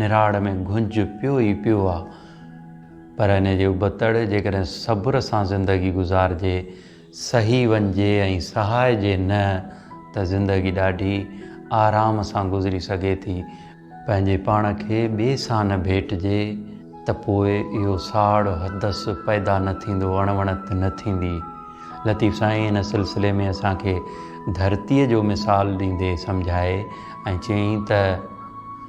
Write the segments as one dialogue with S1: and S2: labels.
S1: نراڙ ۾ گهنج پيو ئي پيو آ پر ان جي ابتڙ جيڪڏهن صبر سان زندگي گذارجي، سهي وڃجي ۽ سهائجي نه ته زندگي ڏاڍي آرام سان گذري سگهي ٿي. پنهنجي پاڻ کي ٻئي سان نه ڀيٽجي ته پوء اهو ساڙ حدس پيدا نه ٿيندو، اڻوڻت نه ٿيندي. لطيف سائين ان سلسلي ۾ اسان کي ڌرتيء جو مثال ڏيندي سمجهائي ۽ چيائين ته.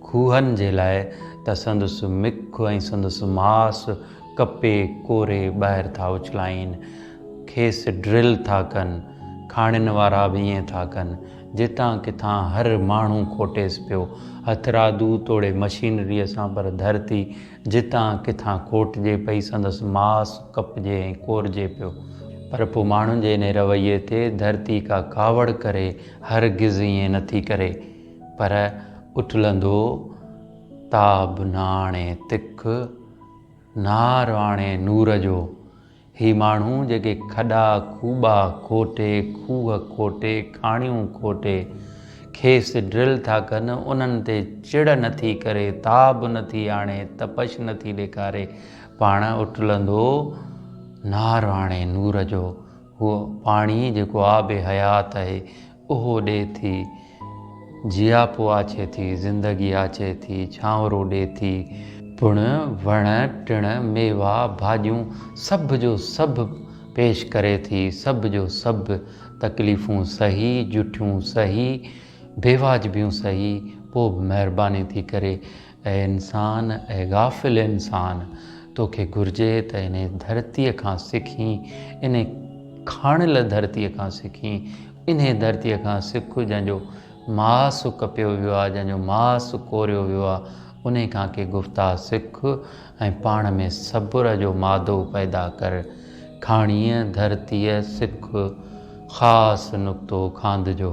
S1: کوهن جي لاء ته سندس مک ۽ سندس ماس ڪپي ڪوري ٻاهر ٿا اڇلائين، کيس ڊرل ٿا ڪن، کاڻين وارا به ائين ٿا ڪن، جتان ڪٿان هر ماڻهو کوٽيس پيو، هٿرادو توڙي مشينريء سان پر ڌرتي جتان ڪٿان کوٽجي پئي، سندس ماس ڪپجي ۽ ڪورجي پيو. پر پوء ماڻهن جي انهي رويي تي ڌرتي ڪا ڪاوڙ ڪري، هرگز ائين نٿي ڪري. پر اٿلندو تاب ناڻي تک، نار آڻي نور جو. هي ماڻهو جيڪي کڏا کوٻا کوٽي، کوهه کوٽي، کاڻيون کوٽي، کيس ڊرل ٿا ڪن، انهن تي چڙ نه ٿي ڪري، تاب نه ٿي آڻي، تپش نه ٿي ڏيکاري، پاڻ اٿلندو نار آڻي نور جو. هو پاڻي جيڪو آب حيات آهي، اهو ڏي ٿي، جياپو آڇي ٿي، زندگي آڇي ٿي، ڇانورو ڏي ٿي، پڻ وڻ ٽڻ، ميوا، ڀاڄيون سڀ جو سڀ پيش ڪري ٿي، سڀ جو سڀ تڪليفون سهي، جٺيون سهي، بيواجبيون سهي، پوء به مهرباني ٿي ڪري اي انسان، اي غافل انسان! توکي گهرجي ته انهيء ڌرتيء کان سکين، انهيء کاڻيل ڌرتيء کان سکين، انهيء ڌرتيء کان سک جنهن جو ماس ڪپيو ويو آهي، جنهن جو ماس ڪوريو ويو آهي، انهيء کان ڪي گفتا سک ۽ پاڻ ۾ صبر جو مادو پيدا ڪر. کاڻيء، ڌرتيء، سک خاص نقطو کاندجو.